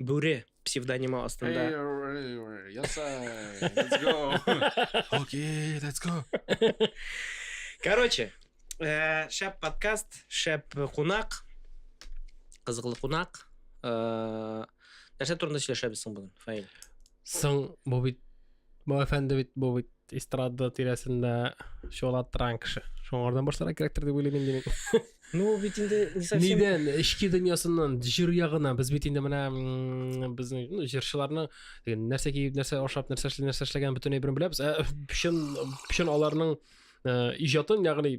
Бүре псевдонимы астында. Ясай, let's go. Окей, let's go. Короче, э, шәп подкаст, шәп кунак, кызыклы кунак. Э, нәрсә турында сөйләшәбез соң бүген, Фаил? Соң, бу бит, бу әфәнде бит, бу бит эстрада тирәсендә чолаттырган кеше шуңардан башларга кирәктер дип уйлыйм инде мин ну бит инде не совсем нидән эчке дөньясыннан җыр ягына без бит инде менә безнең ну җырчыларның нәрсә киеп нәрсә ашап нәрсә эшли нәрсә эшләгәнен бөтенләй берен беләбез ә чын чын аларның э, иҗатын ягъни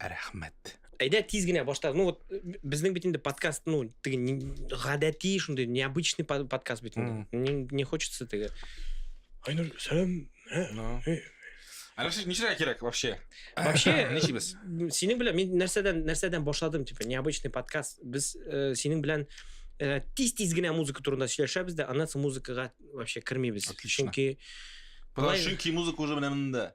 рәхмәт әйдә тиз генә башта ну вот безнең бит инде подкаст ну теге гадәти шундый необычный подкаст бит инде не, не хочется теге айнур сәлам Алексей, ничего кирәк вообще? Вообще, ничебез? Синең белән мин нәрсәдән нәрсәдән башладым, типа, необычный подкаст. Без э, синең белән э, тиз-тиз генә музыка турында сөйләшәбез дә, аннан соң музыкага вообще кермибез. Отлично. Чөнки Потому что чөнки музыка уже менә монда.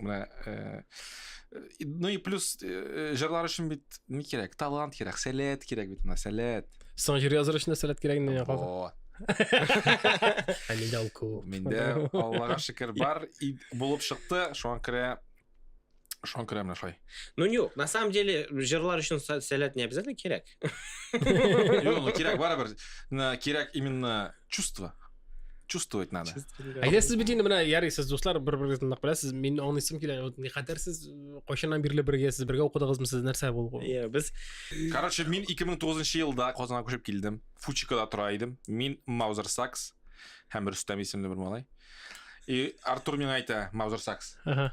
менә э, ну и плюс э, җырлар өчен бит ни кирәк талант кирәк сәләт кирәк бит менә сәләт соң җыр языр өчен сәләт кирәк инде о ә миндә ул күп миндә аллага шөкер бар булып чыкты шуңа күрә шуңа күрә менә шулай ну юк на самом деле җырлар өчен сәләт не обязательно кирәк Юк, ну кирәк барыбер. На кирәк именно чувство. Чувствовать надо. Әйдә сез бит инде менә ярый сез дуслар бер-берегезне нык беләсез. Мин аңлыйсым килә. Вот никадәр сез э, кайчаннан бирле бергә сез бергә укыдыгызмы сез нәрсә булгы? Иә, без Короче, мин 2009 елда Казанга күчеп килдем. Фучикада тора идем. Мин Маузер Сакс һәм Рөстәм исемле бер малай. И Артур миңа әйтә, Маузер Сакс. Ага.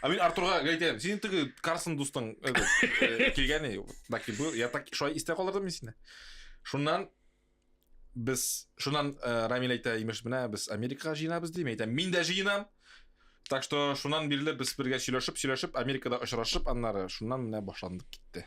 А мин Артурга әйтәм, синең теге Карсон дустың э, э, килгәне, так и был, я так шулай истә калдырдым мин сине. Шуннан без, шуннан э, Рамил әйтә, имеш, менә без Америкага җыенабыз дим, әйтәм, мин дә җыенам. Так что шуннан бирле без бергә сөйләшеп, сөйләшеп, Америкада очрашып, аннары шуннан менә башландык китте.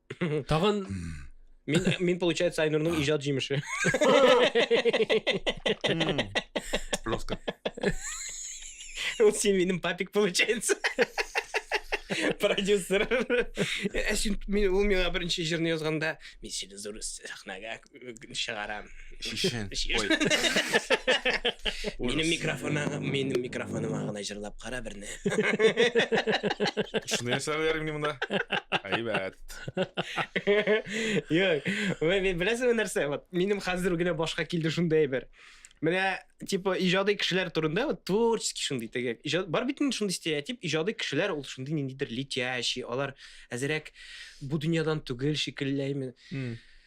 Тагын Мин, мин получается, Айнурның иҗат җимеше. Жестко. Ул син минем папик получается. Продюсер. Ә син мин ул миңа беренче җырны язганда, мин сине зур сәхнәгә чыгарам. Шишен. Минем микрофона, минем микрофоныма гына җырлап кара берне. Шуны ясап бер минем монда. Әйбәт. Йок, мен беләсең нәрсә? Вот минем хәзер генә башка килде шундый әйбер. Менә типа иҗади кешеләр турында вот творческий шундый теге. Иҗат бар бит инде шундый стереотип, иҗади кешеләр ул шундый ниндидер летящий, алар әзерәк бу дөньядан түгел шикелләйме.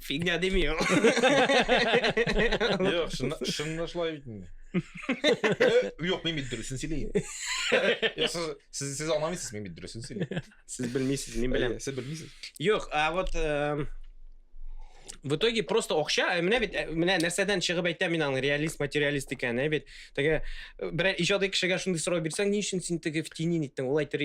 Фигня дими ул. Юк, шунда шулай бит инде. Юк, мин бит дөресен сөйләйм. Сез сез аңламыйсыз, мин бит дөресен сөйләйм. Сез белмисез, мин беләм. Сез белмисез. Юк, а вот в итоге просто акча ә менә бит э, менә нәрсәдән чыгып әйтә мин аның реалист материалист икәнен ә бит теге э, берәр иҗади кешегә шундый сорау бирсәң ни өчен син теге в тени ниттең ул әйтер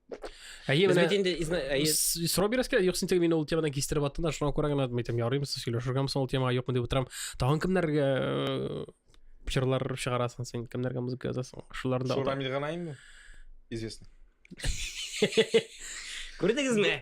Әйе, менә бит инде әйе. Сробирс килә, юк син теге мине ул темадан кистереп аттың да, шуңа күрә генә әйтәм, ярыймы сез сөйләшергәме соң ул темага юкмы дип утырам. Тагын кемнәргә э, җырлар чыгарасың син, кемнәргә музыка язасың? Шулар да. Шурамил Ганаимы? Известно. Күрдегезме?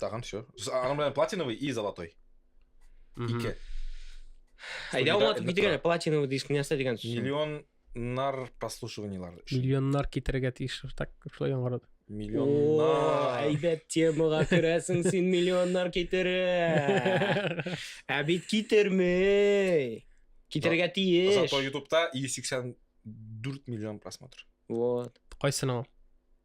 Тагын все. Анын менен платиновый и золотой. Ике. Айда алматып китергән платиновый диск нәрсә дигән сүз? Миллионнар прослушиваниелар. Миллионнар китергә тиеш так шулай яңгырады. Миллионнар. Әйбәт темага керәсең син миллионнар китерә. Ә бит китермей. Китергә тиеш. Зато ютубта 184 миллион просмотр. Вот. Кайсының?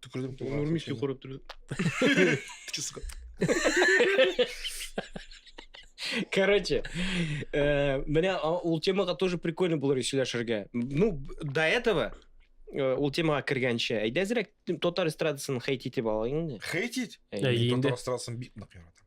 Түкердем Ул кулга. Нурмис йокырып торды. Кичү, сука. Короче, э, менә а, ул темага тоже прикольно булыр сөйләшергә. Ну, б- до этого э, ул темага кергәнче, әйдә әзрәк татар эстрадасын хейт итеп алайык инде. Хейтить? Әйе. Әйе. Мин инде. татар эстрадасын бик нык яратам.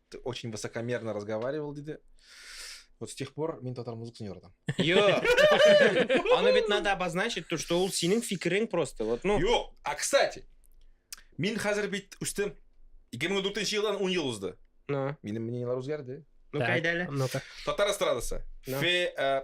Ты очень высокомерно разговаривал, диде. Вот с тех пор мин татар музыкасын яратам. Йо! Аны бит надо обозначить, то, что ул синең фикерең просто. Вот, ну... Юк! А, кстати, мин хәзер бит үстем. 2004 елдан 10 ел узды. Ну. Минем мнениелар үзгәрде. Ну-ка, әйдә әле. Ну-ка. Татар эстрадасы. Ну. Фе, э,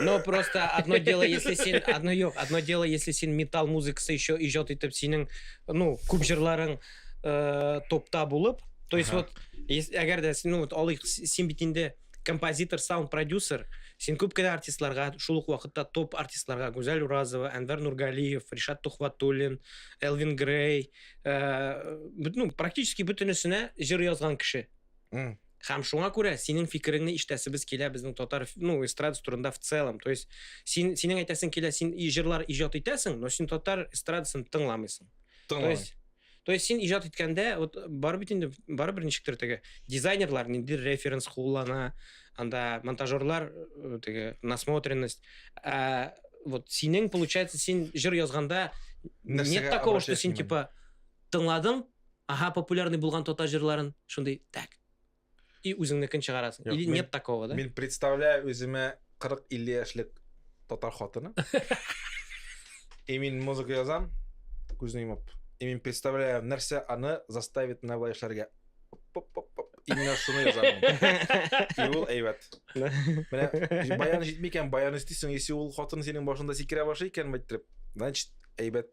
Но просто одно дело, если син, одно юк, одно дело, если син металл музыкасы еще иҗат итеп синең, ну, күп җырларың э, топта булып, то есть вот, әгәр дә, ну, вот, алыйк, син бит инде композитор, саунд продюсер, син күп кенә артистларга, шул ук вакытта топ артистларга, Гүзәл Уразова, Әнвәр Нургалиев, Ришат Тухватуллин, Элвин Грей, э, ну, практически бөтенесенә җыр язган кеше. Mm. Хәм шуңа күрә синең фикереңне иштәсебез килә безнең татар ну эстрада турында в целом. То есть син синең әйтәсең килә, син җырлар иҗат итәсең, но син татар эстрадасын тыңламыйсың. То есть То есть син иҗат иткәндә вот бар бит инде бар бер ничектер теге дизайнерлар нинди референс куллана, анда монтажерлар э, теге насмотренность. Ә вот синең получается син җыр язганда нет такого, что син типа тыңладың, Аһа популярный булган татар җырларын шундый так и үзеңнекен чыгарасың или нет такого да мин представляю үземә 40-50 яшьлек татар хатыны и мин музыка язам күзне йомып и мин представляю нәрсә аны заставит менә былай эшләргә именно шуны язамын и ул әйбәт менә баян җитми икән баян өстисең если ул хатын синең башыңда сикерә башлый икән мәйттереп значит әйбәт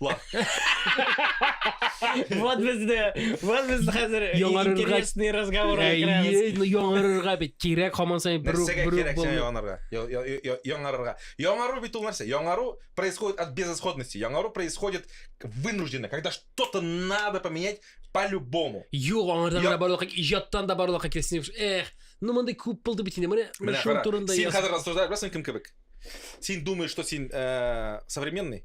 Ла. Вот безне, вот без хәзер Яңарырга- интересный разговорга Әйе, керәбез. ну, яңарырга бит кирәк һаман саен бер үк Нәрсәгә бер үк кирәк сиңа булмый. яңарырга? Я- я- я- я- Яңарырга. Яңару бит ул нәрсә. Яңару происходит от безысходности. Яңару происходит вынужденно, когда что-то надо поменять по-любому. Юк, аңардан Я- гына барлыкка, иҗаттан да барлыкка килсен. Эх, ну мондай күп булды бит инде. Менә менә Менә шуның кара, турында син яз. хәзер рассуждаешь, беләсең кем кебек? Син думаешь, что син э, современный?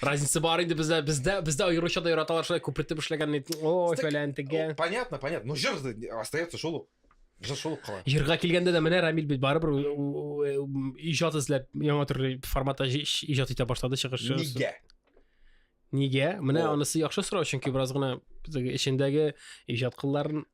Разница бар инде бездә, бездә, бездә аеруча да яраталар шулай күпертеп эшләгәнне. О, фәлән тегә. Понятно, понятно. Ну, җыр остается шул ук. Җыр шул ук кала. Җырга килгәндә дә менә Рамил бит барыбер иҗат эзләп яңа төрле форматта иҗат итә башлады чыгышы. Нигә? Нигә? Менә анысы яхшы сорау, чөнки бераз гына эчендәге иҗат кылларын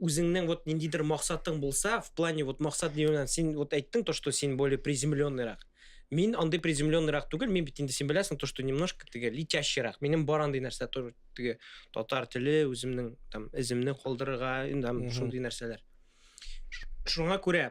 үзеңнең вот ниндидер максатың булса, в плане вот максат дигән син вот әйттең то, что син более приземленныйрак. Мин андый приземленныйрак түгел, мин бит инде син беләсең то, что немножко теге летящийрак. Минем бар андый нәрсә тоже теге татар теле, үземнең там эземне калдырырга, инде шундый нәрсәләр. Шуңа күрә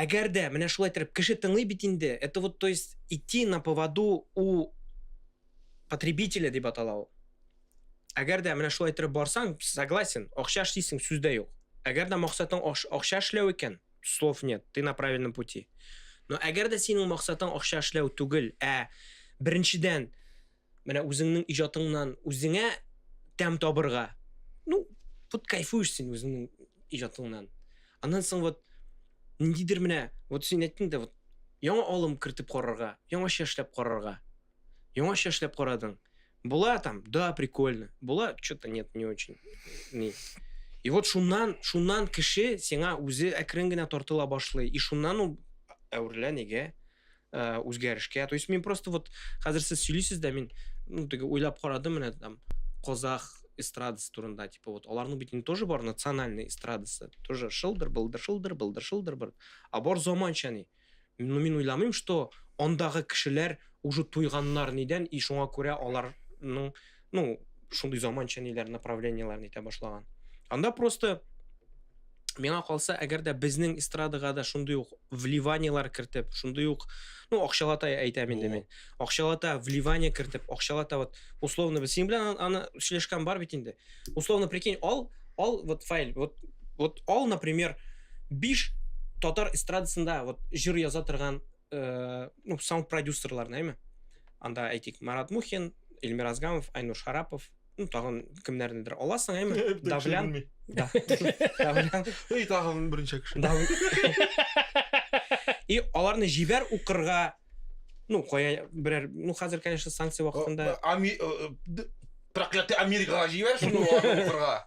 Әгәр дә менә шулай иттереп кеше тыңлый бит инде, это вот то есть идти на поводу у потребителя дип атала ул. Әгәр дә менә шулай иттереп барсаң, согласен, акча эшлисең, сүз дә юк. Әгәр дә максатың акча эшләү икән, слов нет, ты на правильном пути. Но әгәр дә синең максатың акча эшләү түгел, ә беренчедән Менә үзеңнең иҗатыңнан үзеңә тәм табырга. Ну, вот кайфуешь син үзеңнең иҗатыңнан. Аннан соң вот ниндидер менә, вот син әйттең дә, вот яңа алым кертеп карарга, яңача эшләп карарга. Яңача эшләп карадың. Була там, да, прикольно. Була, что-то нет, не очень. Не. И вот шуннан, шуннан кеше сиңа үзе әкрен генә тартыла башлый. И шуннан ул әверелә нигә? ә, үзгәрешкә то есть мин просто вот хәзер сез сөйлисез дә мин ну теге уйлап карадым менә там казах эстрадасы турында типа вот аларның бит тоже бар национальный эстрадасы тоже шылдыр былдыр шылдыр былдыр шылдыр быр а бар заманча ни ну мин уйламыйм что андагы кешеләр уже туйганнар нидән и шуңа күрә аларның ну шундый заманча ниләр направлениеләрне итә башлаган анда просто миңа калса әгәр дә безнең эстрадага да шундый ук вливаниелар кертеп шундый ук ну акчалата әйтәм инде мин акчалата вливание кертеп акчалата вот условно без синең белән аны сөйләшкән бар бит инде условно прикинь ал ал вот файл вот вот ал например биш татар эстрадасында вот җыр яза торган э, ну, саунд продюсерлар нәме анда әйтик марат мухин эльмир азгамов айнур шарапов ну тагын кемнәрнедер аласың әйме давлян давлян и тагын берничә кеше и аларны җибәр укырга ну кая берәр ну хәзер конечно санкция вакытында э, э, проклятый америкага җибәр шуны укырга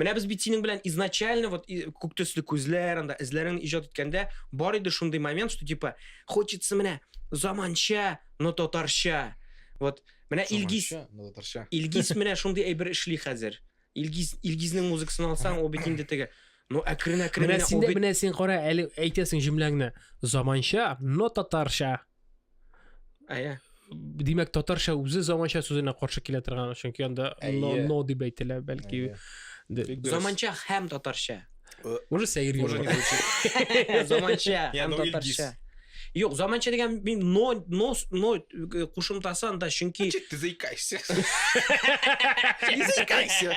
Менә без бит синең белән изначально вот күк төсле күзләр, анда эзләрен иҗат иткәндә бар иде шундый момент, что типа хочется менә заманча, но татарча. Вот менә Илгиз, но татарча. Илгиз менә шундый әйбер эшли хәзер. Илгиз Илгизнең музыкасын алсаң, ул бит инде теге Ну, әкрен әкрен менә син менә син кара әле әйтәсең җөмләңне. Заманча, но татарча. Әйе. Димәк, татарча үзе заманча сүзенә каршы килә торган, чөнки анда но, но дип әйтелә, бәлки. Заманча һәм татарча. Э, уже сәер Уже не звучит. Заманча һәм ну, татарча. Юк, заманча дигән мин но, но, но э, кушымтасы анда, чөнки... Чит, ты заикайся. Не заикайся.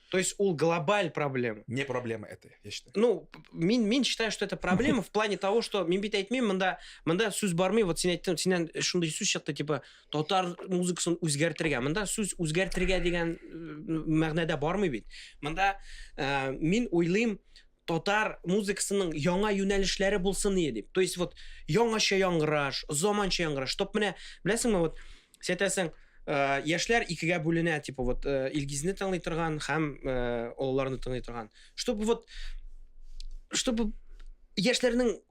То есть ул глобаль проблема. Не проблема это, я считаю. Ну, мин, мин считаю, что это проблема в плане того, что мин бит әйтмим, мында, мында сүз бармый, вот син әйттем, синен шундый сүз чыкты, типа, татар музыкасын үзгәртергә. Мында сүз үзгәртергә дигән э, мәгънәдә бармый бит. Мында э, мин уйлыйм, татар музыкасының яңа юнәлешләре булсын ие дип. То есть вот яңача яңгыраш, заманча яңгыраш. Топ менә, беләсеңме, вот сәтәсең, э, яшьләр икегә бүленә, типа вот э, Илгизне тыңлый торган һәм э, олыларны тыңлый торган. Чтобы вот чтобы яшьләрнең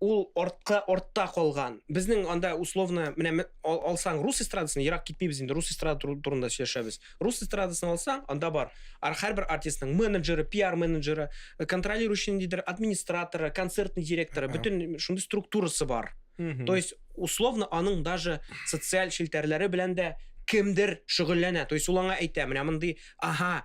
ул артка артта калган безнең анда условно менә алсаң рус эстрадасын ерак китмибез инде рус эстрада турында сөйләшәбез рус эстрадасын алсаң анда бар һәрбер артистның менеджеры пиар менеджеры э, контролирующий ниндидер администраторы концертный директоры бөтен шундый структурасы бар то есть условно аның даже социаль челтәрләре белән дә кемдер шөгыльләнә то есть ул аңа әйтә менә мондый ага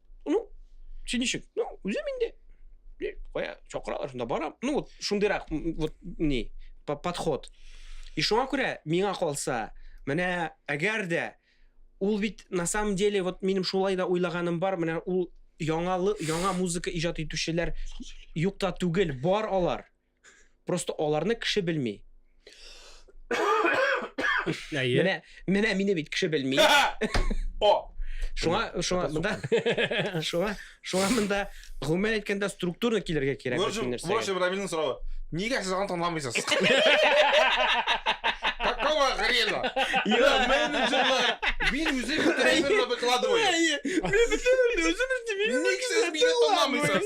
ну сен ничек ну үзем инде кая чакыралар шунда барам ну вот шундыйрак вот не подход и шуңа күрә миңа калса менә әгәр дә ул бит на самом деле вот минем шулай да уйлаганым бар менә ул яңалы яңа музыка иҗат итүчеләр юк та түгел бар алар Просто аларны кеше белми. Әйе. Менә, менә мине бит кеше белми. О! Шуңа, шуңа, монда, шуңа, шуңа монда, гомумән әйткәндә, структурно килергә кирәк. В общем, в общем, Рамилнең соравы. Нигә сез аны танымыйсыз? Какого хрена? Менеджерлар, мин үзе бетерәймен выкладываю. Мин бетерәймен, үзе бетерәймен. Ник сез мине танымыйсыз?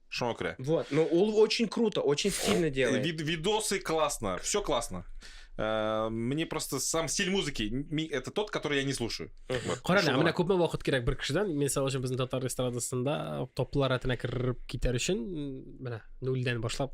Шуңа күрә. Вот, но ул очень круто, очень стильно делает. Вид, видосы классно, все классно. Э, мне просто сам стиль музыки, это тот, который я не слушаю. Кара, да, менә күпме вакыт кирәк бер кешедән, мисал өчен безнең татар эстрадасында топлар рәтенә кереп китәр өчен, менә нульдән башлап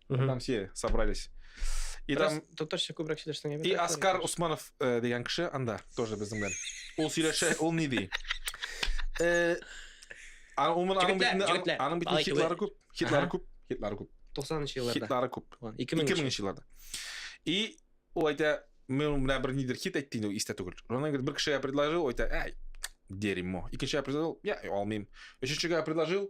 Угу. Там все собрались. И Раз, там... Доктор Шекубрак Шилешнең И Оскар конечно. Усманов э, дигән кеше анда, тоже безнең белән. Ул сөйләшә, ул ни ди? Э, аның бит аның бит хитлары күп, хитлары күп, хитлары күп. 90-нчы елларда. Хитлары күп. 2000-нчы елларда. И ул әйтә, мен менә бер нидер хит әйтте инде, истә түгел. Ронан бер кешегә предложил, әйтә, әй, дерьмо. Икенчегә предложил, я алмыйм. Өченчегә предложил,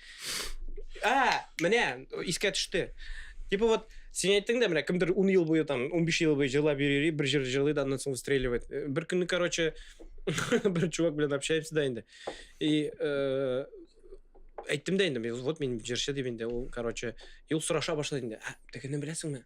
А, менә, искә төште. Типа вот, сен әйттең дә, менә кемдер 10 ел буе там, 15 ел буе җырлап йөри, бер җыр җырлый да, аннан соң выстреливает. Э, бер көнне, короче, бер чувак белән общаемся да инде. И э, әйттем дә инде, вот мин җырчы дип инде, ул, короче, и ул сораша башлады инде. Ә, тегене беләсеңме?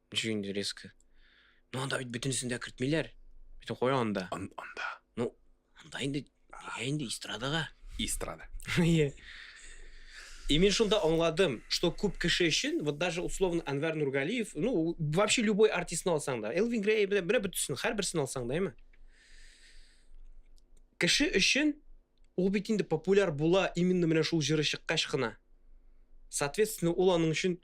Ничек инде резко? Ну анда бит бөтенесен дә кертмиләр. Бөтен кой анда. Ан- Анда. Ну, анда инде нигә инде эстрадага? Эстрада. Иә. И мен шунда аңладым, что күп кеше өчен, вот даже условно Анвар Нургалиев, ну, вообще любой артистны алсаң да, Элвин Грей, менә менә бөтенесен, һәрберсен алсаң да, әйме? Кеше өчен ул бит инде популяр була именно менә шул җыры чыккач кына. Соответственно, ул аның өчен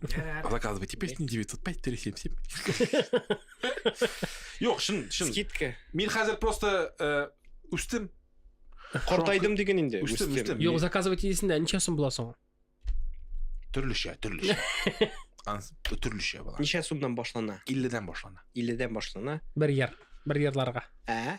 Заказывайте песни 905 377. Юк, шын, шын. Скидка. Мин хәзер просто э, үстем. Картайдым диген инде. Үстем, үстем. Юк, заказывать идесендә ничә сум була соң? Төрлечә, төрлечә. Төрлечә була. Ничә сумнан башлана? 50 дән башлана. 50 дән башлана. Бер яр, бер ярларга. Ә?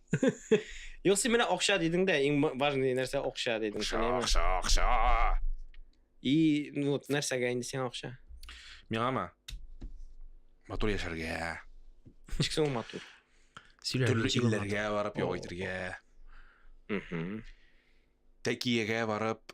Юк, син менә акча дидең дә, иң важный нәрсә акча дидең. Акча, акча, акча. И, ну вот, нәрсәгә инде сиңа акча? Миңамы? Матур яшәргә. Ничек соң матур? Төрле илләргә барып ял итәргә. Тәкиягә барып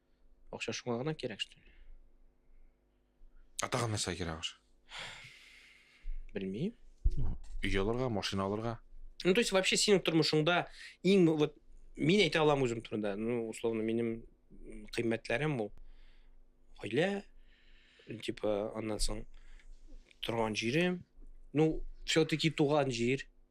Акча шуңа гына кирәк, что ли? А тагын нәрсә кирәк аш? Белмим. Өй алырга, машина алырга. Ну, то есть вообще синең тормышыңда иң вот мин әйтә алам үзем турында. Ну, условно, минем кыйммәтләрем ул гаилә, типа, аннан соң торган җирем. Ну, все-таки туган җир.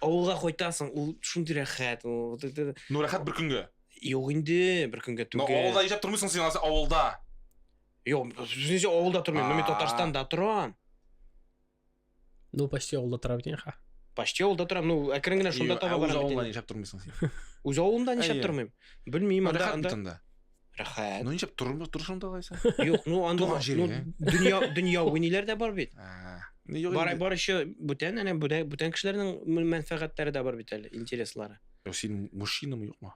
Авылга кайтасың, ул шундый рәхәт. ул- т- т- Ну, рәхәт бер көнгә. Юк инде, бер көнгә Но түгел. авылда яшәп тормыйсың син алайса авылда. Юк, сүзенчә авылда тормыйм, но мин А. Татарстанда торам. Ну, почти авылда тора бит ха. Почти авылда торам, ну, әкрен генә шунда Йо, таба ә үз барам. бит авылда инде. яшәп тормыйсың син. Үз авылымда нишләп Әйе. тормыйм? Белмим, анда Рәхәт бит анда. анда. Рәхәт. Ну ничек тормы торышың да алайса? Юк, ну анда Туган җире, ну, ә? дөнья дөнья уйныйлар да бар бит. Ә, ну, юк Бар инде. бар еще бүтән әнә бүтән бүтән кешеләрнең мө- мәнфәгатьләре дә бар бит әле, интереслары. Юк, Син мужчинамы юкмы?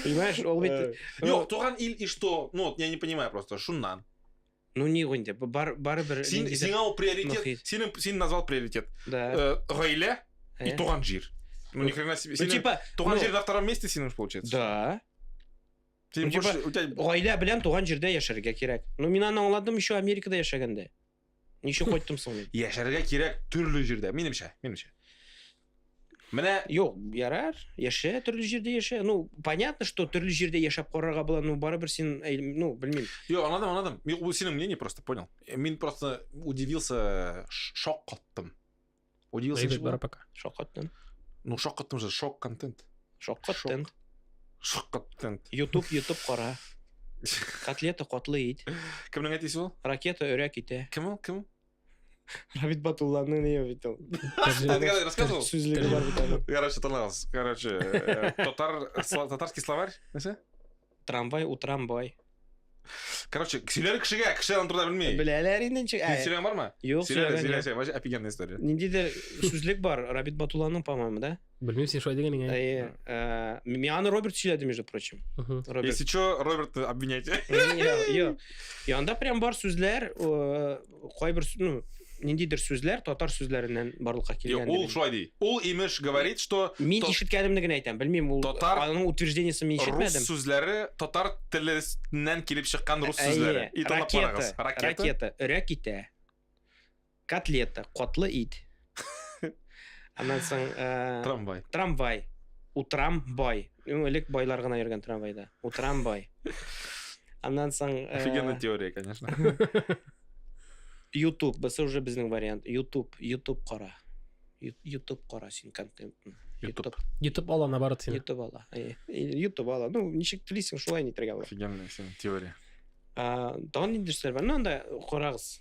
Понимаешь, ул бит Э, Юк, туган ил и что? Ну, вот я не понимаю просто, шуннан. Ну не инде, бар барыбер Син сиңа ул приоритет, синең син назвал приоритет. Э, гаилә и э? туган җир. Ну ни хрена себе. Ну, типа, туган ну, җир на втором месте синең получается. Да. Син типа, гаилә белән туган җирдә яшәргә кирәк. Ну мин аны аңладым еще Америкада яшәгәндә. Ничек кайттым соң мин? Яшәргә кирәк төрле җирдә, минемчә, минемчә. Менә Юк, ярар, яшә, төрле җирдә яшә. Ну, понятно, что төрле җирдә яшәп карарга була, ну, барыбер син, ну, белмим. Юк, анадым, анадым. Юк, бу синең мнение просто, понял. Мин просто удивился, шок каттым. Удивился. Дэвид Барапака. Шок каттым. Ну, шок каттым же, шок контент. Шок контент. Шок контент. YouTube, YouTube кара. Котлета котлы ит. Кемнең әтисе ул? Ракета өрәк ите. Кем ул? Кем? Равит Батулланы не видел. Ты рассказывал? Короче, Талас, короче, э, татарский словарь, Трамвай у трамвай. Короче, сөйләр кешегә, кеше аны турыда белми. Беләләр инде ничек. Ә, Сөйләгән бармы? Юк, сөйләгән. Сөйлә, сөйлә, офигенная история. Ниндидер сүзлек бар, Рабит Батулланың, по-моему, да? Белмим, син шулай дигән икән. Әйе. Э, Мин аны Роберт сөйләде, между прочим. Мгм. Роберт. Если что, Робертны обвинять. Йо, йо. И анда прям бар сүзләр, э, кайбер су- ну, ниндидер сүзләр татар сүзләреннән барлыкка Йо, килгән. Ул шулай ди. Ул имеш говорит, что Мин то- ишеткәнемне генә әйтәм, белмим, ул Татар- аның утверждениесен мин рус ишетмәдем. сүзләре татар теленнән килеп чыккан рус Әйе, сүзләре. И талап ракета, карагыз. Ракета. ракета, өрә китә. Котлета, котлы ит. Аннан соң... Э, трамвай. Трамвай. Утрам бай. Элек байлар гына йөргән трамвайда. Утрам бай. Аннан соң... Э, Офигенная теория, конечно. YouTube, бысы уже безнең вариант. YouTube, YouTube кара. YouTube кара син контент. YouTube. YouTube ала, наоборот, син. YouTube ала. Э, YouTube ала. Ну, ничек телисең, шулай нитергә була. Офигенная син теория. Тагын ниндидер сүзләр бар. Ну, анда карагыз.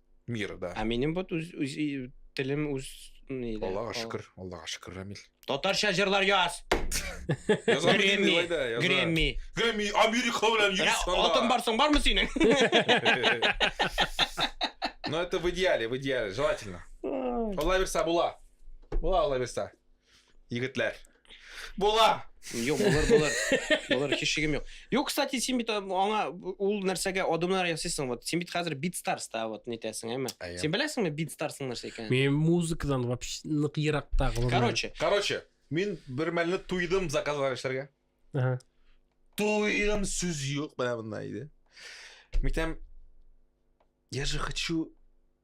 Мира, да. Ә минем вот үз, үз и- телем үз ни дә, Аллага кал- шөкер, Аллага шөкер, Рамил. Татарча җырлар яз. Яза Грэмми, белмим, илай да, яза. Грэмми. Грэмми, Америка белән Менә йөрис анда. алтын барсың бармы синең? Но это в идеале, в идеале, желательно. Алла бирса була. Була Алла бирса. Егетләр. Була. Юк, булыр, булыр. Булыр, һич шигем юк. Юк, кстати, син бит аңа ул нәрсәгә адымнар ясыйсың. Вот син бит хәзер Beatstars та вот нитәсең, әйме? Син беләсеңме Beatstars нәрсә икәнен? Мин музыкадан вообще нык еракта. Короче. Короче, мин бер мәлне туйдым заказлар эшләргә. Ага. Туйдым сүз юк, менә монда иде. Митәм, я же хочу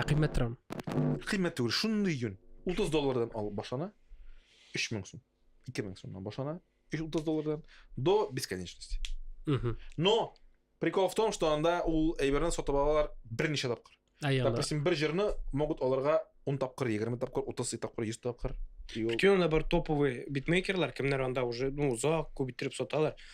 Ә кыйммәт торам. Кыйммәт түгел, шундый йөн. 30 доллардан алып башлана. 3000 сум. 2000 сумнан башлана. 30 доллардан до бесконечности. Угу. Но прикол в том, что анда ул әйберне сатып алалар берничә тапкыр. Допустим, бер җырны могут аларга 10 тапкыр, 20 тапкыр, 30 тапкыр, 100 тапкыр. Бүтән анда бар топовый битмейкерлар, кемнәр анда уже, ну, узак, күп иттереп саталар.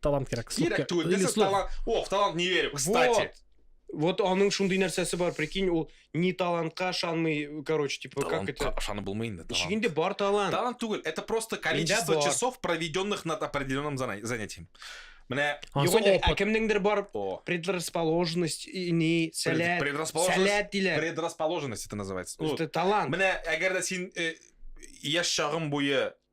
талант кирәк. Кирәк түгел, this is талант. О, в талант не верю, кстати. Вот аның шундый нәрсәсе бар, прикинь, ул ни талантка ышанмый, короче, типа, как это... Талантка ышанып булмый инде, талант. Ишегендә бар талант. Талант түгел, это просто количество часов, проведенных над определенным занятием. Менә юк инде ә кемнеңдер бар предрасположенность ни сәләт сәләт диләр. Предрасположенность это называется. Это талант. Менә әгәр дә син э, яшь чагың буе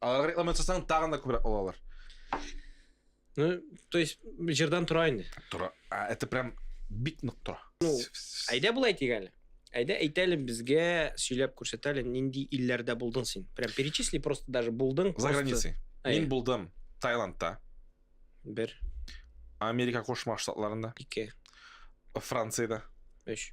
Алар реклама ясасаң, тагын да күбрәк алалар. Ну, то есть, җырдан тора инде. Тора. А, это прям бик нык тора. Ну, әйдә болай әйтик әле. Әйдә әйтәле безгә сөйләп күрсәтәле, нинди илләрдә булдың син? Прям перечисли просто даже булдың. За границей. Мин булдым Таиландта. Бер. Америка Кошмар Штатларында. Ике. Францияда. Өч.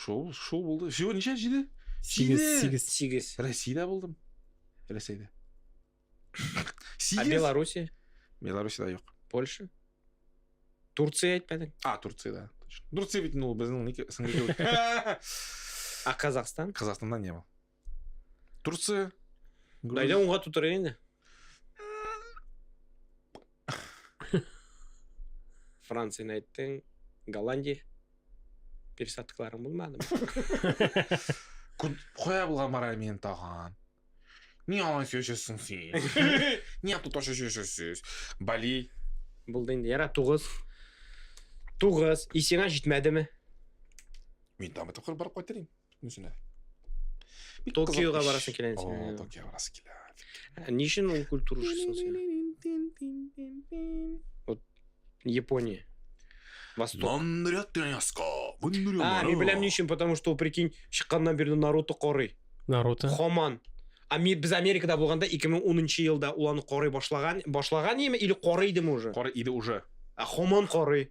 Шул, шул булды. Всего ничә җиде? Сигез, сигез. Сигез. Россияда булдым. Рәсәйдә. А Беларуси? Беларусида юк. Польша? Турция әйтмәдең? А, Турция, да. Турция бит ул безнең СНГ. А Казахстан? Казахстанда не был. Турция. Груз... Әйдә уңга тутыры инде. Францияны әйттең, Голландия. Пересадкаларың булмады. Кая булган бара мин тагын? Ни алан сөйләшәсең син? Ни ату ташы сөйләшәсез? Бали. Булды инде. Яра тугыз. Тугыз. Исеңә җитмәдеме? Мин там это барып кайтырым. Үзенә. Бик Токиога кызык эш. барасың килә инде. О, Токио барасы килә. Ә Ни өчен ул культурашысың син? Япония. Восток. Нандрят яска. А, мин беләм ни өчен, потому что ул, прикинь, чыкканнан бирле Наруто карый. Наруто. Хаман. А ми- без Америкада булганда 2010 елда ул аны карый башлаган, башлаган яме или карый идеме уже? Кара иде уже. А Хаман карый.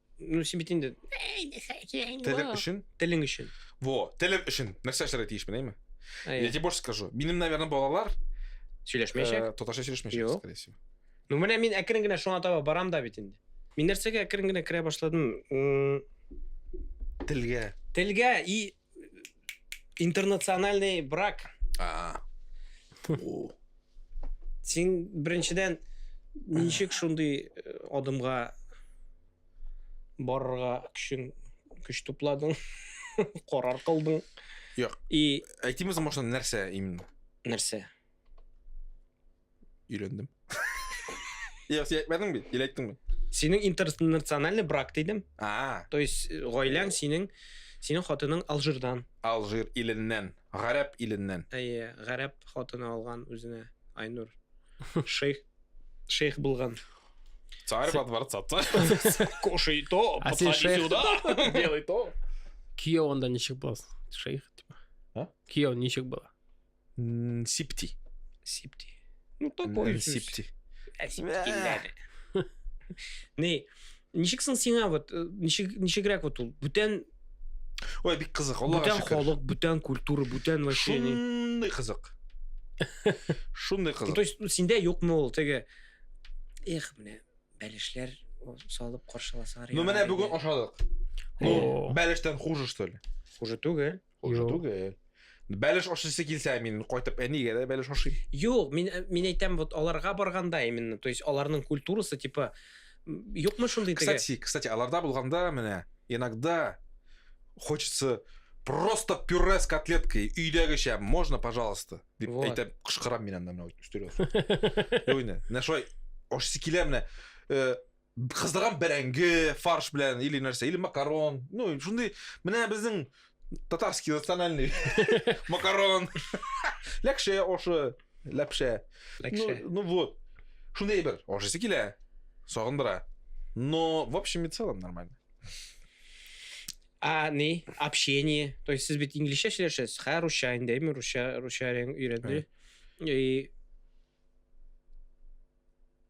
Ну, син бит инде телең өчен. Телең өчен. Во, телем өчен. Нәрсә эшләргә тиешмен, әйме? Я тебе больше скажу. Минем, наверное, балалар сөйләшмәячәк. Э, Татарча сөйләшмәячәк, скорее всего. Ну, менә мин әкрен генә шуңа таба барам да бит инде. Мин нәрсәгә әкрен генә керә башладым? Телгә. Телгә и Интернациональный брак. А. Син беренчедән ничек шундый э, адымга барырга көчең көч тупладың, карар кылдың? Юк. И әйтимез машина нәрсә именно? Нәрсә? Өйләндем. Йә, син әйтмәдең бит, или әйттеңме? Синең интернациональный брак дидем. А. То есть э, гаиләң синең синең хатының Алжирдан. Алжир иленнән, гарәп иленнән. Әйе, гарәп хатыны алган үзенә Айнур. Шейх шейх булган. Царь во дворца. Кушай то, а подходи шейх... сюда, делай то. Кияу анда ничек буласың? Шейх, типа. А? Кияу ничек була? Сипти. Сипти. Ну, такой. Сипти. Не, ничек соң сиңа вот э, ничек ничегрәк вот ул бүтән Ой, бик кызык, Аллага шөкер. Бүтән халык, бүтән культура, бүтән вообще. Шундый кызык. Шундый кызык. То есть, ну, синдә юкмы ул теге Эх, менә бәлешләр салып каршыласалар. Ну, менә бүген ашадык. Ну, бәлештән хуже, что ли? Хуже түгел. Уже түгел. Бәлеш ашыйсы килсә, мин кайтып әнигә дә бәлеш ашыйм. Юк, мин мин әйтәм, вот аларга барганда именно, то есть аларның культурасы типа юкмы шундый теге. Кстати, кстати, аларда булганда менә иногда хочется просто пюре с котлеткой өйдәгечә можно пожалуйста дип вот. әйтәм кычкырам мин анда менә өстәлгә менә шулай ашыйсы килә менә э, кыздырган бәрәңге фарш белән или нәрсә или макарон ну шундый менә безнең татарский национальный макарон ләкшә ошы ләпшә ләкшә ну вот шундый әйбер ашыйсы килә сагындыра но в общем и целом нормально а не общение то есть сез бит инглишчә сөйләшәсез хә русча инде әйме русча русча өйрәнде и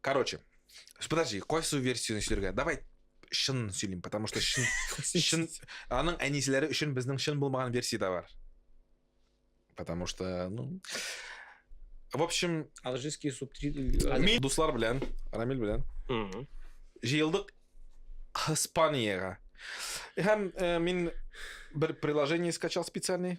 Короче, подожди, кайсы версияны сөйләргә? Давай шын сөйлим, потому что шын, шын аның әнисләре өчен безнең шын булмаган версия да бар. Потому что, ну, в общем, алжирский субтитр. Мин дуслар белән, Рамил белән. Җыелдык Испаниягә. Һәм э, мин бер приложение скачал специальный.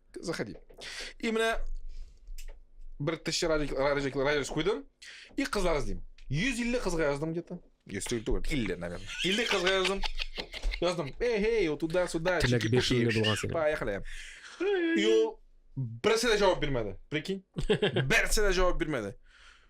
Заходи. И менә бер тысяча радиус куйдым, и кызлар эзлим. 150 кызга яздым где-то. 150 түгел, 50, наверное. 50 кызга яздым. Яздым, эй, эй, вот туда, сюда. Теләк 5 елны булган синең. Поехали. И ул берсе дә җавап бирмәде. Прикинь? Берсе дә җавап бирмәде.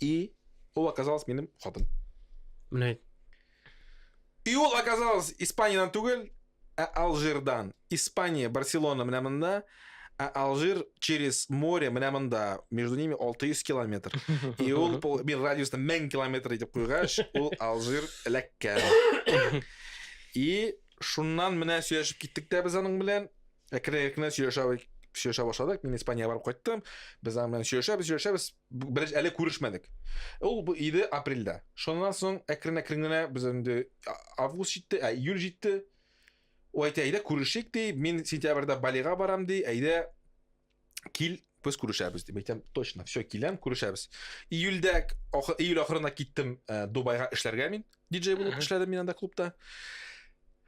И ол оказалась минем хатын. Менә әйт. И ул оказалось Испаниядән түгел, ә Алжирдан. Испания, Барселона менә монда, ә Алжир через море менә монда. Между ними 600 километр. И ул мин радиусны 1000 километр итеп куйгач, ул Алжир эләккән. И шуннан менә сөйләшеп киттек тә без аның белән. Әкрен-әкрен сөйләшә сөйләшә башладык. Мин Испаниягә барып кайттым. Без аның белән сөйләшәбез, сөйләшәбез. Беренче әле күрешмәдек. Ул бу иде апрельдә. Шуннан соң әкрен-әкрен генә без инде август җитте, ә июль җитте. Ул әйтә, әйдә күрешик ди, мин сентябрьдә Балига барам ди, әйдә кил, без күрешәбез дип әйтәм. Точно, все, киләм, күрешәбез. Июльдә, июль ахырына киттем э, Дубайга эшләргә мин. Диджей булып эшләдем мин анда клубта.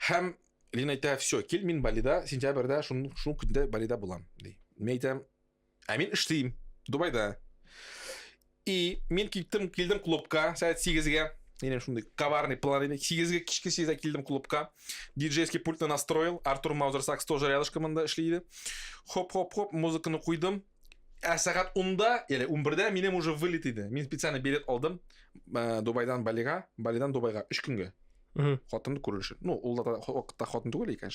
Һәм Лина әйтә, все, кил, мин Балида, сентябрьдә, шул көндә Балида булам, ди. Мин әйтәм, Ә мин эшлим Дубайда. И мин киттем, килдем клубка сәгать 8-гә. Менем шундый коварный план иде. 8-гә кичке 8-гә килдем клубка. Диджейский пультны настроил. Артур Маузер сакс тоже рядышком монда эшли иде. Хоп-хоп-хоп, музыканы куйдым. Ә сәгать 10-да, яли 11-дә минем уже вылет иде. Мин специально билет алдым. Э, Дубайдан Балига, Балидан Дубайга 3 көнгә. Хатынды күрү өчен. Ну, ул да вакытта хатын түгел икән.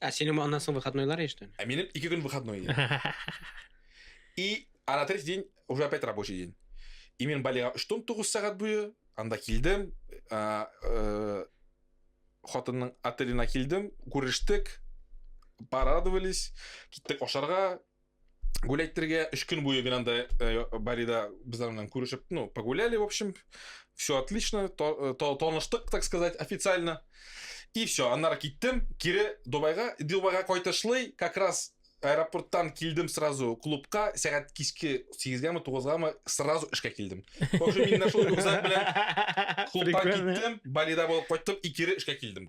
Ә синең аннан соң выходнойлар яшьтән? Ә минем ике көн выходной иде. И а на третий день уже опять рабочий день. И мен Балига үштон тугыз сәгать буе анда килдем. Ә, ә, хатынның отелена килдем, күрештек, порадовались, киттек ашарга, гуләйттерергә өч көн буе генә анда э, барида безләр белән күрешеп ну погуляли в общем все отлично э, таныштык так сказать официально и все аннары киттем кире дубайга дубайга кайтышлый как раз аэропорттан килдем сразу клубка сәгать кичке сегезгәме тугызгамы сразу эшкә килдем в общем мин шул рюкзак белән клубтан киттем балида булып кайттым и кире эшкә килдем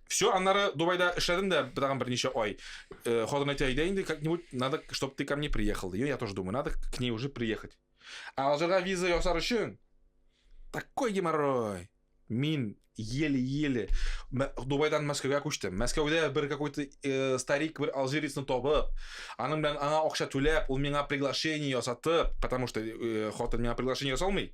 Все, аннары Дубайда эшләдем дә тагын берничә ай. Э, Хатын әйтә, әйдә инде, как-нибудь надо, чтобы ты ко мне приехал. Ди. Я тоже думаю, надо к ней уже приехать. Ә алжирга виза ясар өчен такой геморрой. Мин еле-еле Мә- Дубайдан Мәскәүгә күчтем. Мәскәүдә бер какой-то э, старик бер алжирецны табып, аның белән аңа акча түләп, ул миңа приглашение ясатып, потому что э, хатын миңа приглашение ясалмый.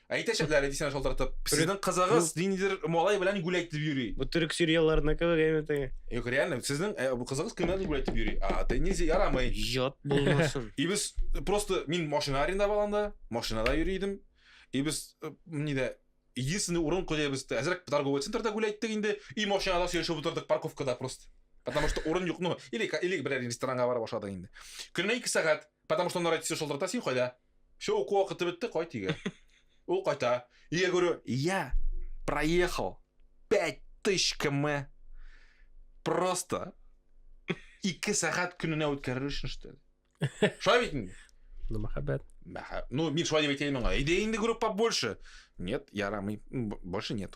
Әйтәчәкләр дисәң шалтыратып. Сезнең кызыгыз ниндидер малай белән гүл әйтеп йөри. Бу төрек сериалларына кебек әйме теге. Юк, реально, сезнең э, бу кызыгыз кем белән гүл әйтеп йөри. А, ты нельзя, ярамый. Ят булмасын. И без просто мин машина арендовал анда, машинада йөри идем. И без э, нидә единственный урын куя без әзрәк торговый центрда гүл әйттек инде, и машинада сөйләшеп утырдык парковкада просто. Потому что урын юк, ну, или или берәр ресторанга барып ашадык инде. Көненә 2 сәгать Потому что он родится шылтырта, син кайда? Все, уку вакыты бетте, кайт өйгә. Ул кайта. И я говорю, я проехал 5000 км просто ике сәгать көненә үткәрер өчен что ли? Шулай бит инде. Ну, мәхәббәт. Мәхә- Ну, мин шулай дип әйтә идем аңа. Әйдә инде группа больше. Нет, ярамый. М, б- Больше нет.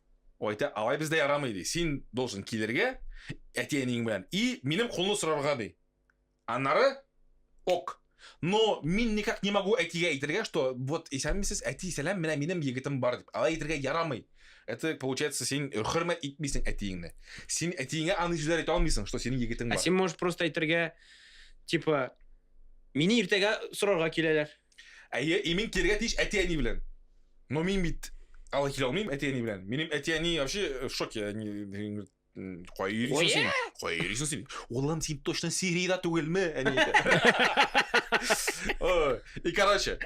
Айта, алай бездә ярамый ди. Син должен килергә әти-әниең белән и минем кулны сорарга ди. Аннары ок. Но мин никак не могу әтигә әйтергә, что вот исәнмесез, әти, сәлам, менә минем егетем бар дип. Алай әйтергә ярамый. Это получается син хөрмәт итмисең әтиеңне. Син әтиеңә аны сүзләр әйтә алмыйсың, что синең егетең бар. Ә син можешь просто әйтергә, типа, мине иртәгә сорарга киләләр. Әйе, и мин килергә тиеш әти-әни белән. Но мин бит алай килә алмыйм әти-әни белән. Минем әти-әни вообще э, в шоке. Они говорят, «М, Кая йөрисең Оя! син? Кая йөрисең син? Улым, син точно Сириядә түгелме? Әни әйтә. Ой, И короче,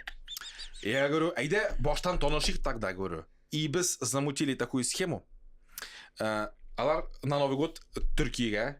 я говорю, әйдә баштан танышыйк тогда, говорю. И без замутили такую схему. Э, Алар на Новый год Төркиягә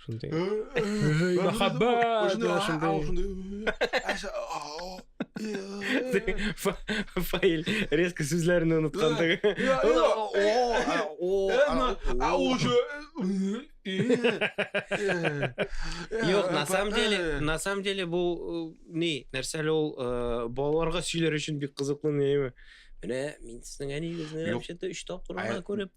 Шундый. Мәхәббәт. Фаил резко сүзләрне оныткан теге. Юк, на самом деле, на самом деле бу ни, нәрсә әле ул балаларга сөйләр өчен бик кызыклы нәйме. Менә мин сезнең әнигезне вообще-то 3 тапкыр гына күреп.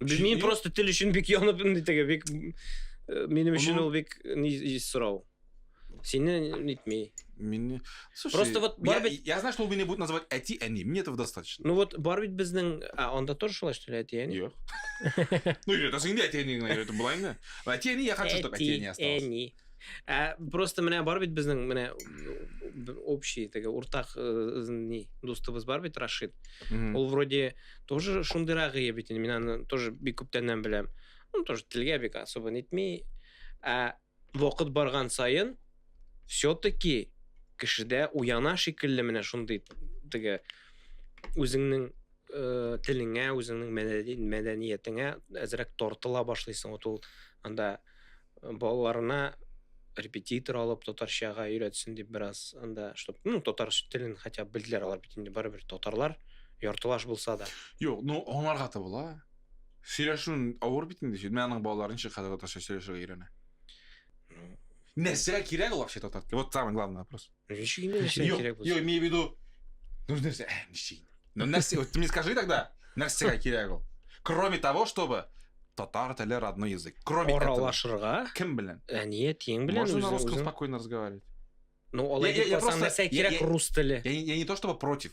Мин просто тел өчен бик янып инде теге бик э, минем өчен ул бик ни сорау. Сине нитми. Мин Слушай, просто вот бар бит я знаю, что меня будут называть эти они. Мне этого достаточно. Ну вот бар бит безнең а анда тоже шулай что ли эти они? Юк. Ну это синде эти они, это была инде. Эти они я хочу, чтобы эти они осталось. Эти они. Ә просто менә бар бит безнең менә общий теге уртак э, ни дустыбыз бар бит Рашид. Ул вроде тоже шундыйрак ие бит инде. Мин аны тоже бик күптәннән беләм. Ну тоже телгә бик особо нитми. Ә вакыт барган саен все-таки кешедә уяна шикелле менә шундый теге үзеңнең э, телеңә, үзеңнең мәдәниятеңә әзрәк тартыла башлыйсың. Вот ул анда балаларына репетитор алып татарчага өйрәтсен дип бераз анда чтобы ну татар телен хотя бы белделәр алар бит инде барыбер татарлар яртылаш булса да юк ну аңларга да була сөйләшүен авыр бит инде менә аның балалары ничек хәзер татарча сөйләшергә өйрәнә нәрсә кирәк ул вообще татар теле вот самый главный вопрос Ничек инде нәрсә Юк, кирәк юк, булсын? имею в виду, нужно нәрсә, ә, ничек? Ну, нәрсә, вот ты мне скажи тогда, нәрсәгә кирәк ул? Кроме того, чтобы татар теле родной язык. Кроме этого, Аралашырга, кем белән? әният ең белән Можно на үзең- русском үзең- спокойно разговаривать. Ну, алай Я- я- дип я калсаң, просто- нәрсә я- кирәк я- рус теле? Я, не- я не то чтобы против,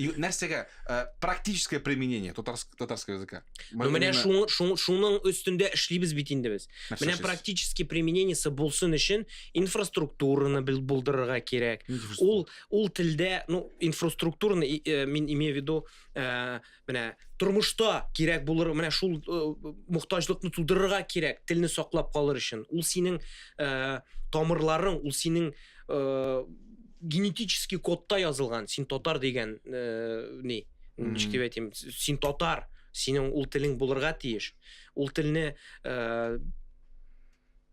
И нәрсәгә э, практическое применение татарск, татарского языка? Ну, менә шуның шу, шуның өстендә эшлибез бит инде без. Менә практически применениесе булсын өчен инфраструктураны булдырырга кирәк. Ул ул телдә, ну, инфраструктураны э, мин имею в виду, э, менә тормышта кирәк булыр, менә шул э, мохтаҗлыкны тудырырга кирәк, телне саклап калыр өчен. Ул синең э, тамырларың, ул синең э, генетический кодта язылган син татар дигән э, ни ничек дип әйтим син татар синең ул телең булырга тиеш ул телне э,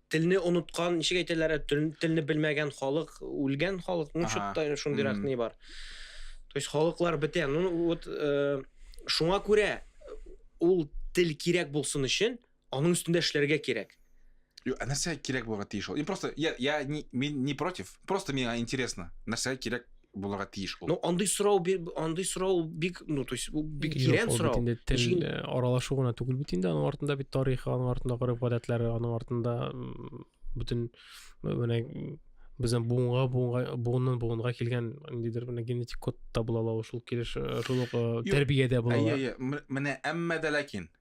телне оныткан ничек әйтәләр телне белмәгән халык үлгән халык ну что-то шундыйрак ни бар то есть халыклар бетә ну вот э, шуңа күрә ул тел кирәк булсын өчен Аның өстендә эшләргә кирәк. Юк, ә нәрсә кирәк булырга тиеш ул? Мин просто я я не, мин не против. Просто миңа интересно. Нәрсә кирәк булырга тиеш ул? Ну, андый сорау андый сорау бик, ну, то есть, бик тирән сорау. Инде тел э, аралашу гына түгел бит инде, аның артында бит тарихы, аның артында гореф гадәтләре, аның артында бөтен менә безнең буынга буынга буыннан буынга килгән ниндидер менә генетик код та була ала шул килеш э, шул ук э, тәрбиядә була ала. Менә әмма дә ләкин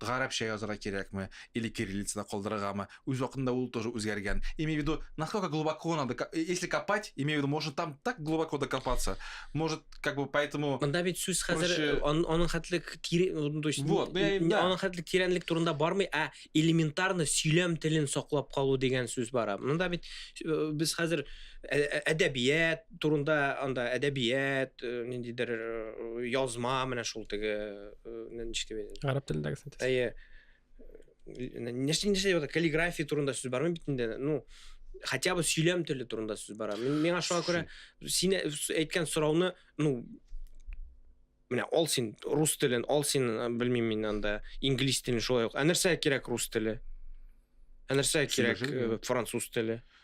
Гарәпчә язырга кирәкме, или кириллицада калдырыргамы, үз вакытында ул тоже үзгәргән. Имею в виду, насколько глубоко надо, ка, э, если копать, имею в виду, можно там так глубоко докопаться, может, как бы поэтому Монда бит сүз хәзер проще- э, ан- аның хәтле к- тире, ну, то есть, Вот, ну, я- н- да. аның хәтле тирәнлек турында бармый, ә элементарно сөйләм телен саклап калу дигән сүз бара. Монда бит э, без хәзер ә- ә- әдәбият турында анда әдәбият, э, ниндидер э, язма менә шул теге ничек дип әйтәм гарәп телендәге синтез әйе нәрсә нәрсә каллиграфия турында сүз бармы бит инде ну хотя бы сөйләм теле турында сүз бара миңа шуңа күрә син әйткән сорауны ну менә ал син рус телен ал син белмим мин анда инглиз телен шулай ук ә нәрсә кирәк рус теле ә нәрсә кирәк француз теле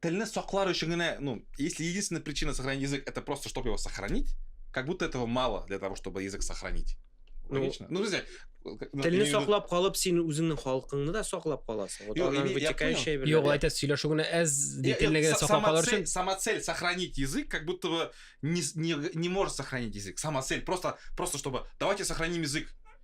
Телне саклар өчен генә, ну, если единственная причина сохранить язык, это просто, чтобы его сохранить, как будто этого мало для того, чтобы язык сохранить. Ну, Логично. Ну, друзья, телне саклап калып син үзеңнең халкыңны да саклап каласың вот аннан вытекающая бер юк әйтәсез сөйләшү генә әз телнегә саклап калыр өчен сама цель сохранить язык как будто бы не, не, не может сохранить язык сама цель просто просто чтобы давайте сохраним язык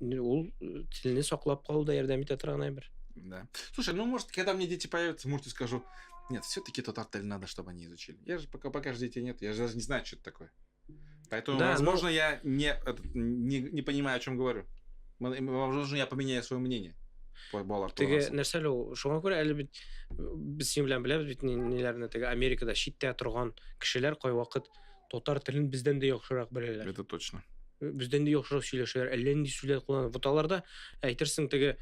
Ул телне саклап калуда ярдәм итә торган әйбер. Да. Слушай, ну может, когда мне дети появятся, может, и скажу, нет, все-таки тот артель надо, чтобы они изучили. Я же пока, пока же детей нет, я же даже не знаю, что это такое. Поэтому, да, возможно, но... я не, это, не, не понимаю, о чем говорю. Возможно, я поменяю свое мнение. балалар теге нәрсәле ул шуңа күрә әле бит без синең белән беләбез бит ниләрне теге америкада читтә торган кешеләр кайвакыт татар телен бездән дә яхшырак беләләр. Это точно. Бездән дә яхшырак сөйләшәләр. Әллә нинди сүзләр кулланып. Вот аларда әйтерсең теге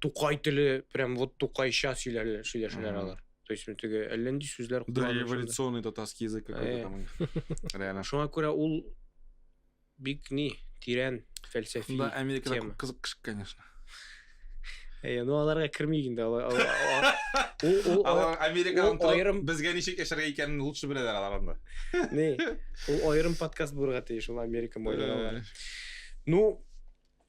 тукай теле прям вот тукайча сөйләләр, сөйләшәләр алар. То есть теге әллә нинди сүзләр кулланып. Да, эволюционный татарский язык какой-то э. там. Реально. Шуңа күрә ул Бик ни, тирән фәлсәфи тема. Монда Америкада күп кызык кеше, конечно. Әйе, ну аларга кермик инде. Алар Америкадан торып, безгә ничек яшәргә икәнен лучше беләләр алар анда. Ни, ул аерым подкаст булырга тиеш, ул Америка майларына. Ну,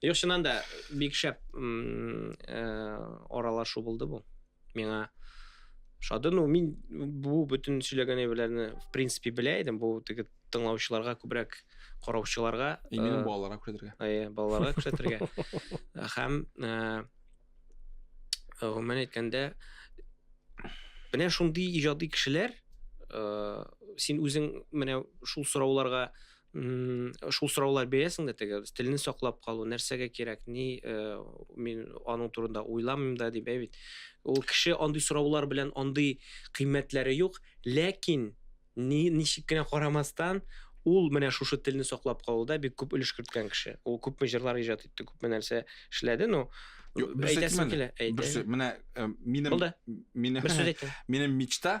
Юк, чыннан да бик шәп аралашу булды бу. Миңа шады. Ну, мин бу бөтен сөйләгән әйберләрне в принципе белә идем. Бу теге тыңлаучыларга күбрәк караучыларга и минем э, балаларга күрсәтергә. Әйе, балаларга күрсәтергә. Һәм э, гомумән әйткәндә менә шундый иҗади кешеләр э, син үзең менә шул сорауларга шул сораулар бирәсең дә теге телне саклап калу нәрсәгә кирәк ни э, мин аның турында уйламыйм да дип бит ул кеше андый сораулар белән андый кыйммәтләре юк ләкин ни ничек кенә карамастан ул менә шушы телне саклап калуда бик күп өлеш керткән кеше ул күпме җырлар иҗат итте күпме нәрсә эшләде но әйтәсем килә менә э, минем минем мечта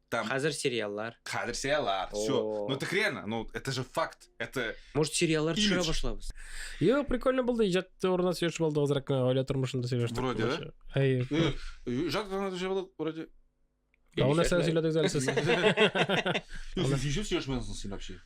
Там... Хазер сериаллар. Хазер сериаллар. Все. Ну так реально, ну это же факт. Это... Может сериаллар төшерә башлабыз. Йо, прикольно булды. Иҗат турында сөйләшеп булды азрак гаилә тормышында сөйләштек. Вроде, да? Әй. Иҗат турында сөйләшеп булды, вроде. А у нас я всегда так залез. Ты еще все шмелснулся вообще?